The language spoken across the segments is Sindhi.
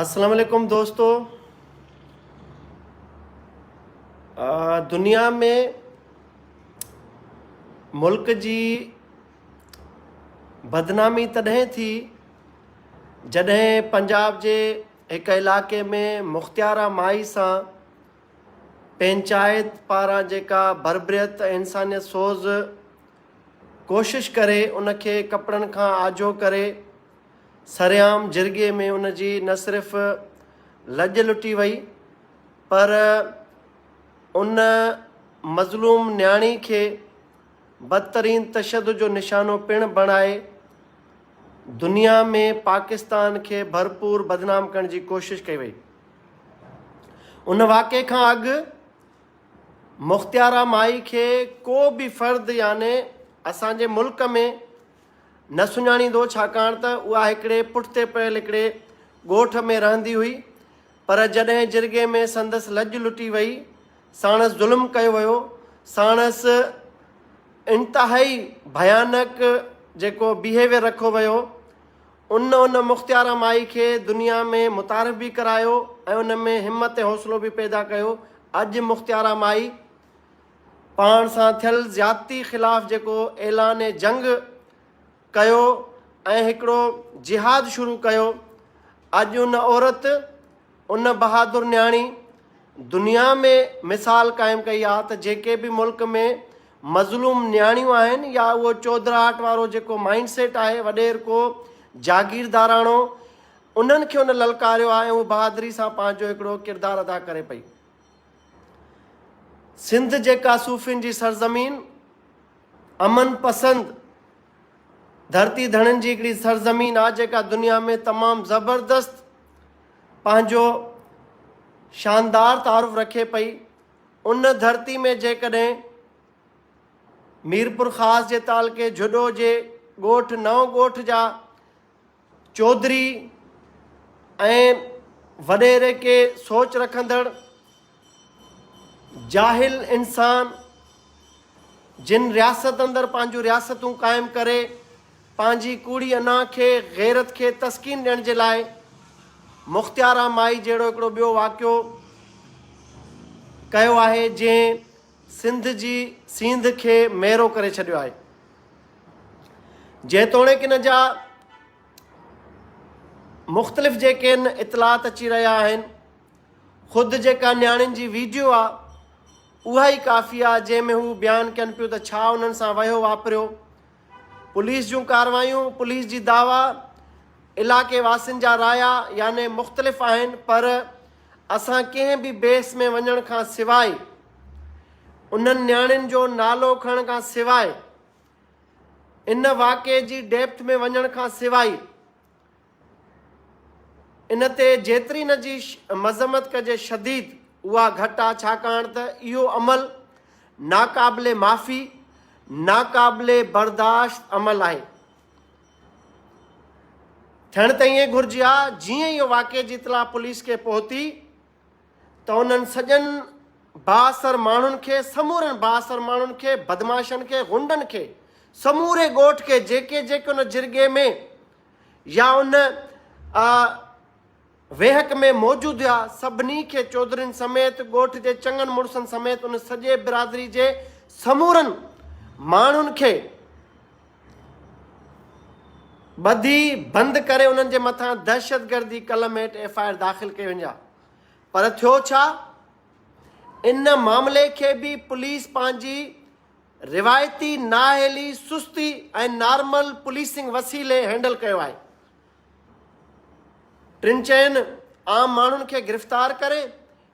اسلام عليڪم دوستو دنيا ۾ ملڪ جي بدنامي تڏهن ٿي جڏهن پنجاب جي هڪ علاقي ۾ مختيارا مائي سان پنچائت پاران جيڪا بربريت انسانيت سوز ڪوشش ڪري ان کي ڪپڙن کان آجو ڪري سرعام جرڳي ۾ ان جي نه صرف لڄ لٽي وئي پر ان مظلوم نياڻي کي بدترين تشدد جو نشانو پڻ بڻائي دنيا ۾ پاڪستان کي ڀرپور بدنام ڪرڻ جي ڪوشش ڪئي وئي. ان واقعي کان اڳ مختيارا مائي کي ڪو به فرد يعني اسان جي ملڪ ۾ نه سڃاڻيندو ڇاڪاڻ ته اها هڪڙي پٺتي پيل هڪڙي ڳوٺ ۾ رهندي هئي پر جڏهن جرڳي ۾ سندس لڄ لٽي وئي ساڻس ظلم ڪيو ويو ساڻس انتهائي ڀيانڪ جيڪو بيهيويئر رکو ويو ان ان مختياره مائي کي دنيا ۾ متعارف به ڪرايو ۽ ان ۾ همت ۽ حوصلو به پيدا ڪيو. اڄ مختياره مائي پاڻ سان ٿيل زيادتي خلاف جيڪو اعلان جنگ ڪيو ۽ هڪڙو جهاد شروع ڪيو، اڄ ان عورت، ان بهادر نياڻي دنيا ۾ مثال قائم ڪئي آهي ته جيڪي به ملڪ ۾ مظلوم نياڻيون آهن يا اهو چوڌراهٽ وارو جيڪو مائنڊ سيٽ آهي وڏير ڪو جاگيرداراڻو انهن کي ان للڪاريو آهي ۽ هو بهادري سان پنهنجو هڪڙو ڪردار ادا ڪري پئي سنڌ جيڪا صوفين جي سرزمين امن پسند ڌرتي ڌڻين جي هڪڙي سرزمين آ جيڪا دنيا ۾ تمام زبردست پنهنجو شاندار تعارف رکي پئي ان ڌرتي ۾ جيڪڏهن ميرپور خاص جي تعلقي جھڏو جي ڳوٺ نئون ڳوٺ جا چوڌري ۽ وڏيري ڪي سوچ رکندڙ جاهل انسان جن رياست اندر پنهنجون رياستون قائم ڪري پنهنجي ڪوڙي انا کي غيرت کي تسڪين ڏيڻ جي لاء مختيارا مائي جهڙو هڪڙو ٻيو واقعو ڪيو آهي جنهن سنڌ جي سينڌ کي ميرو ڪري ڇڏيو آهي. جيتوڻيڪ ان جا مختلف جيڪي ان اطلاعات اچي رهيا آهن خود جيڪا نياڻين جي ويڊيو آ اها ئي ڪافي آ جنهن ۾ هو بيان ڪن پيو ته ڇا انهن سان وهيو واپريو پوليس جون ڪاروايون، پوليس جي دعويٰ علائقي واسين جا رايا يعني مختلف آهن پر اسان ڪنهن به بيس ۾ وڃڻ کان سواء انهن نياڻين جو نالو کڻڻ کان سواء ان واقعي جي ڊيپٿ ۾ وڃڻ کان سواء ان تي جيتري نه جي مذمت ڪجي شديد اها گهٽ آ ڇاڪاڻ ته اهو عمل ناقابل معافي ناقابل برداشت عمل آهي ٿيڻ ته ائين گهرجي ها جيئن اهو واقعي جي اطلاع پوليس کي پهتي ته انهن سڄن بااثر ماڻهن کي، سمورن بااثر ماڻهن کي، بدمعاشن کي، غنڊن کي، سموري ڳوٺ کي جيڪي جيڪي ان جرڳي ۾ يا ان ويهڪ ۾ موجود هيا سڀني کي چوڌرين سميت ڳوٺ جي چڱن مڙسن سميت ان سڄي برادري جي سمورن ماڻهن کي ٻڌي بند ڪري انهن جي مٿان دهشتگردي قلم هيٺ ايف آء آر داخل ڪئي وڃي ها پر ٿيو ڇا ان معاملي کي به پوليس پنهنجي روايتي نااهلي سستي ۽ نارمل پوليسنگ وسيلي هينڊل ڪيو آهي ٽن چئن عام ماڻهن کي گرفتار ڪري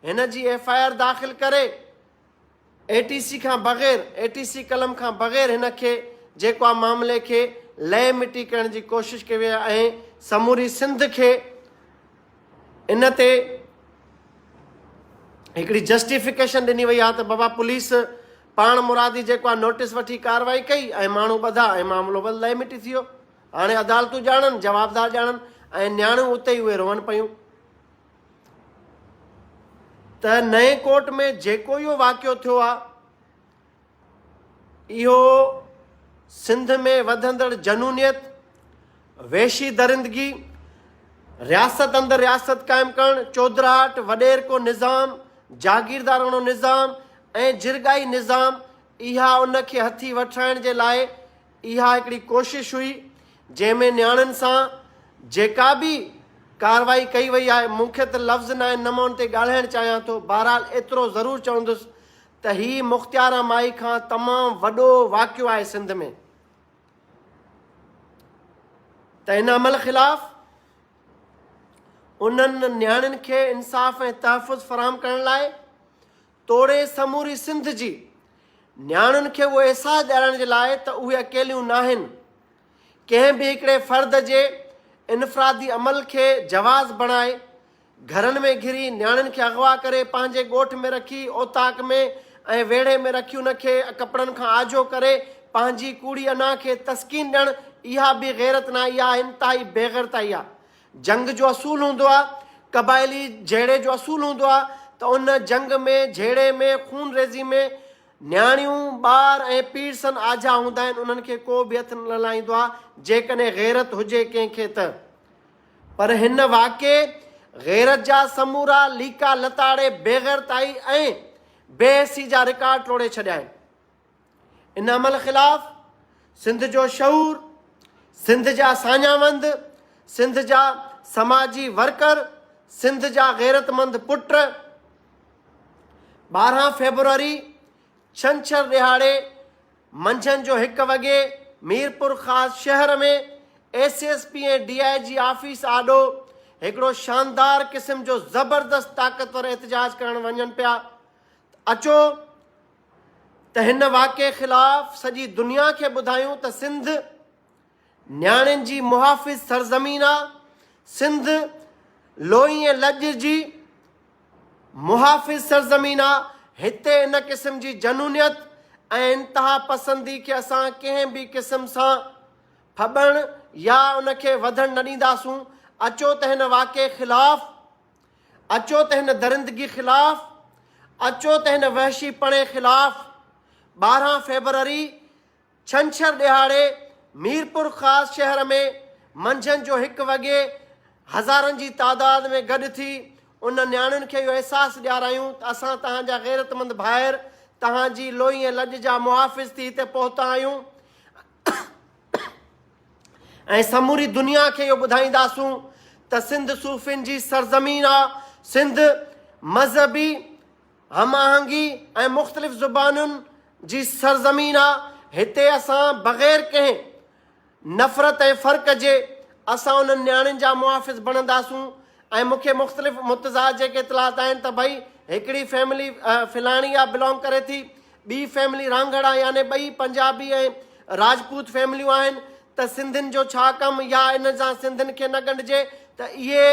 هن جي ايف آء آر داخل ڪري اي ٽي سي کان بغير اي ٽي سي قلم کان بغير هن کي جيڪو آ معاملي کي لئي مٽي ڪرڻ جي ڪوشش ڪئي وئي آهي ۽ سموري سنڌ کي ان تي هڪڙي جسٽيفڪيشن ڏني وئي آهي ته بابا پوليس پاڻ مرادي جيڪو آ نوٽيس وٺي ڪارروائي ڪئي ۽ ماڻهو ٻڌا ۽ معاملو بس لئي مٽي ٿي ويو هاڻي عدالتون ڄاڻن جوابدار ڄاڻن ۽ نياڻيون اتي ئي اهي روئن پيون ته نئين ڪوٽ ۾ جيڪو اهو واقعو ٿيو آهي، اهو سنڌ ۾ وڌندڙ جنونيت، وحشي درندگي، رياست اندر رياست قائم ڪرڻ، چوڌراهٽ، وڏيرڪو نظام، جاگيرداراڻو نظام ۽ جرڳائي نظام، اها ان کي هٿي وٺرائڻ جي لاء اها هڪڙي ڪوشش هئي جنهن ۾ نياڻين سان جيڪا به ڪارروائي ڪئي وئي آهي مون کي ته لفظ ناهن نه مان ان تي ڳالهائڻ چاهيان ٿو بهرحال ايترو ضرور چوندس ته هي مختياران مائي کان تمام وڏو واقعو آهي سنڌ ۾ ته ان عمل خلاف انهن نياڻين کي انصاف ۽ تحفظ فراهم ڪرڻ لاء توڙي سموري سنڌ جي نياڻين کي اهو احساس ڏيارائڻ جي لاء ته اهي اڪيليون ناهن. ڪنهن به هڪڙي فرد جي انفرادي عمل کي جواز بڻائي، گهرن ۾ گهري نياڻين کي اغوا ڪري پنهنجي ڳوٺ ۾ رکي اوطاق ۾ ۽ ويڙهي ۾ رکي ان کي ڪپڙن کان آجو ڪري پنهنجي ڪوڙي انا کي تسڪين ڏيڻ اها به غيرت ناهي اها انتهائي بيغيرتائي آهي جنگ جو اصول هوندو آهي، قبائلي جهيڙي جو اصول هوندو آهي ته ان جنگ ۾ جهيڙي ۾ خون ريزي ۾ نياڻيون، ٻار ۽ پيرسن آجها هوندا آهن انهن کي ڪو به هٿ نه لائيندو آهي جيڪڏهن غيرت هجي ڪنهن کي ته. پر هن واقعي غيرت جا سمورا ليڪا لتاڙي بيغيرتائي ۽ بي حسي جا رڪارڊ ٽوڙي ڇڏيا آهن. ان عمل خلاف سنڌ جو شعور، سنڌ جا ساڃاهوند، سنڌ جا سماجي ورڪر، سنڌ جا غيرتمند پٽ ٻارهن فيبروري ڇنڇر ڏهاڙي منجهند جو هڪ وڳي ميرپورخاص شهر ۾ S S P ۽ D I G office آڏو هڪڙو شاندار قسم جو زبردست طاقتور احتجاج ڪرڻ وڃن پيا ته اچو ته هن واقعي خلاف سڄي دنيا کي ٻڌايون ته سنڌ نياڻين جي محافظ سرزمين آ، سنڌ لوئي ۽ لڄ جي محافظ سرزمين آ، هتي ان قسم جي جنونيت ۽ انتها پسندي کي اسان ڪنهن به قسم سان ڦٻڻ يا ان کي وڌڻ نه ڏينداسون، اچو ته هن واقعي خلاف. اچو ته هن درندگي خلاف، اچو ته هن وحشي پڻي خلاف ٻارهن فيبروري ڇنڇر ڏهاڙي ميرپورخاص شهر ۾ منجهند جو هڪ وڳي هزارن جي تعداد ۾ گڏ ٿي انهن نياڻين کي اهو احساس ڏيارايون ته اسان توهان جا غيرتمند ڀائر، توهان جي لوئي ۽ لڄ جا محافظ ٿي هتي پهتا آهيون. ۽ سموري دنيا کي اهو ٻڌائينداسون ته سنڌ صوفين جي سرزمين آ، سنڌ مذهبي هم آهنگي ۽ مختلف زبانن جي سرزمين آ، هتي اسان بغير ڪنهن نفرت ۽ فرق جي اسان انهن نياڻين جا محافظ بڻنداسون ۽ مون کي مختلف متضاد جيڪي اطلاعات آهن ته ڀئي هڪڙي فيملي فلاڻي آ بلانگ ڪري ٿي ٻي فيملي رانگهڙا يعني ٻئي پنجابي ۽ راجپوت فيمليون آهن ته سنڌين جو ڇا ڪم يا انهن سان سنڌين کي نه ڳنڍجي ته اهي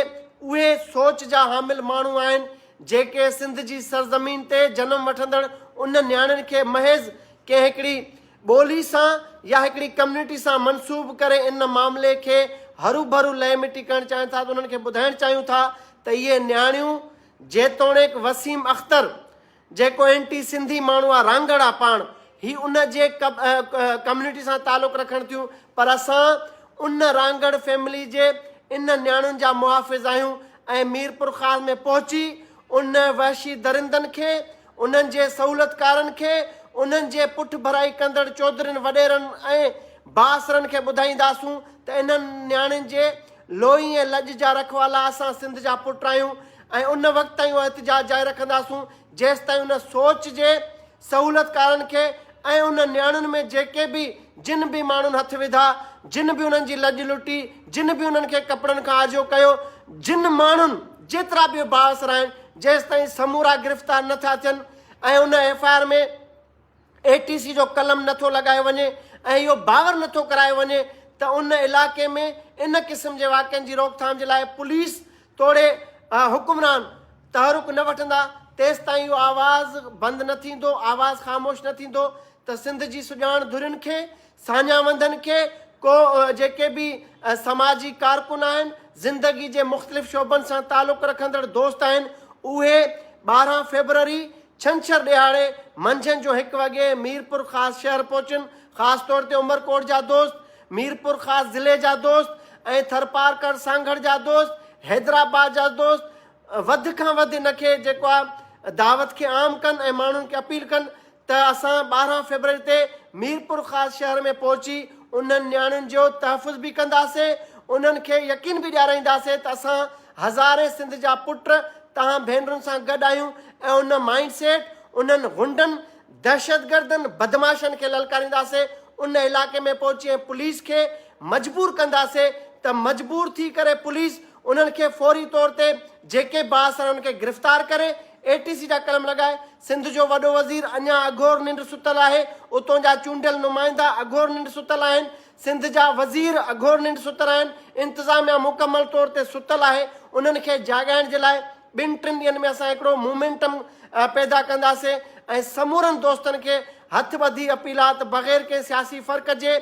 اهي سوچ جا حامل ماڻهو آهن جيڪي سنڌ جي سرزمين تي جنم وٺندڙ انهن نياڻين کي محض ڪنهن هڪڙي ٻولي سان يا هڪڙي ڪميونٽي سان منسوب ڪري ان معاملي کي هروڀرو لئي مٽي ڪرڻ چاهين ٿا ته انهن کي ٻڌائڻ چاهيون ٿا ته اهي نياڻيون جيتوڻيڪ وسيم اختر جيڪو اينٽي سنڌي ماڻهو آ رانگڙ آ پاڻ هي ان جي ڪميونٽي سان تعلق رکڻ ٿيون پر اسان ان رانگڙ فيملي جي ان نياڻين جا محافظ آهيون ۽ ميرپورخاص ۾ پهچي ان وحشي درندن کي انهن جي سهولتڪارن کي انهن جي پٺڀرائي ڪندڙ چوڌرين وڏيرن ۽ بااثرن کي ٻڌائينداسون ته انهن نياڻين جي لوئي ۽ لڄ جا رکوالا اسان سنڌ جا پٽ آهيون ۽ ان وقت تائين اهو احتجاج جاري رکنداسون جيستائين ان سوچ جي سهولتڪارن کي ۽ ان نياڻين ۾ جيڪي به جن به ماڻهن هٿ وڌا جن به انهن جي لڄ لٽي جن به انهن کي ڪپڙن کان آجو ڪيو جن ماڻهن جيترا به بااثر آهن جيستائين سمورا گرفتار نه ٿا ٿين ۽ ان F I R ۾ A T C جو قلم نه ٿو لڳايو وڃي ۽ اهو باور نه ٿو ڪرايو وڃي ته ان علائقي ۾ ان قسم جي واقعن جي روڪٿام جي لاء پوليس توڙي حڪمران تحرڪ نه وٺندا تيستائين اهو آواز بند نه ٿيندو آواز خاموش نه ٿيندو ته سنڌ جي سڄاڻ ڌرين کي ساڃاهه وندن کي ڪو جيڪي به سماجي ڪارڪن آهن زندگي جي مختلف شعبن سان تعلق رکندڙ دوست آهن اهي ٻارهن فيبروري ڇنڇر ڏهاڙي منجهند جو هڪ وڳي ميرپورخاص شهر پهچن، خاص طور تي عمرڪوٽ جا دوست، ميرپورخاص ضلعي جا دوست ۽ ٿرپارڪر سانگهڙ جا دوست، حيدرآباد جا دوست وڌ کان وڌ ان کي جيڪو آ دعوت کي عام ڪن ۽ ماڻهن کي اپيل ڪن ته اسان ٻارهن فيبروري تي ميرپورخاص شهر ۾ پهچي انهن نياڻين جو تحفظ به ڪنداسين انهن کي يقين به ڏيارائينداسين ته اسان هزارين سنڌ جا پٽ تهان ڀينرن سان گڏ آهيون ۽ ان مائينڊ سيٽ، انهن غنڊن، دهشتگردن، بدمعاشن کي للڪارينداسين، ان علائقي ۾ پهچي ۽ پوليس کي مجبور ڪنداسين ته مجبور ٿي ڪري پوليس انهن کي فوري طور تي جيڪي بااثر آهن ان کي گرفتار ڪري اي ٽي سي جا قلم لڳائي، سنڌ جو وڏو وزير اڃان اگهور ننڊ ستل آهي، اتون جا چونڊيل نمائندا اگهور ننڊ ستل آهن، سنڌ جا وزير اگهور ننڊ ستل آهن، انتظاميا مڪمل طور تي ستل آهي، انهن کي جاڳائڻ جي لاء ٻن ٽن ڏينهن ۾ اسان هڪڙو مومينٽم پيدا ڪنداسين ۽ سمورن دوستن کي هٿ ٻڌي اپيل آهي ته بغير ڪنهن سياسي فرق جي،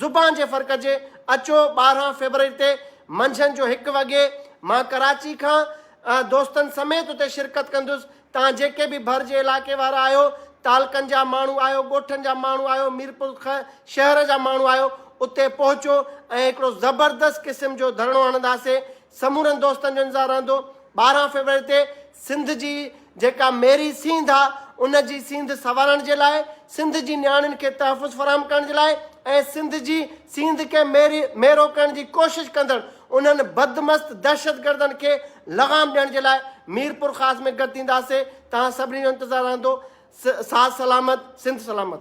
زبان جي فرق جي اچو ٻارهن فيبروري تي منجهند جو هڪ وڳي مان ڪراچي کان دوستن سميت اتي شرڪت ڪندس، تان جيڪي به ڀر جي علائقي وارا آهيو، تعلقن جا ماڻهو آهيو، ڳوٺن جا ماڻهو آهيو، ميرپور خ شهر جا ماڻهو آهيو، اتي پهچو ۽ هڪڙو زبردست قسم جو ڌرڻو هڻنداسي. سمورن دوستن جو انتظار رهندو. ٻارهن فيبروري تي سنڌ جي جيڪا ميري سينڌ آ ان جي سينڌ سنوارڻ جي لاء، سنڌ جي نياڻين کي تحفظ فراهم ڪرڻ جي لاء ۽ سنڌ جي سينڌ کي ميري ميرو ڪرڻ جي ڪوشش ڪندڙ انهن بدمست دهشتگردن کي لغام ڏيڻ جي لاء ميرپورخاص ۾ گڏ ٿينداسين، توهان سڀني جو انتظار رهندو، ساز سلامت، سنڌ سلامت.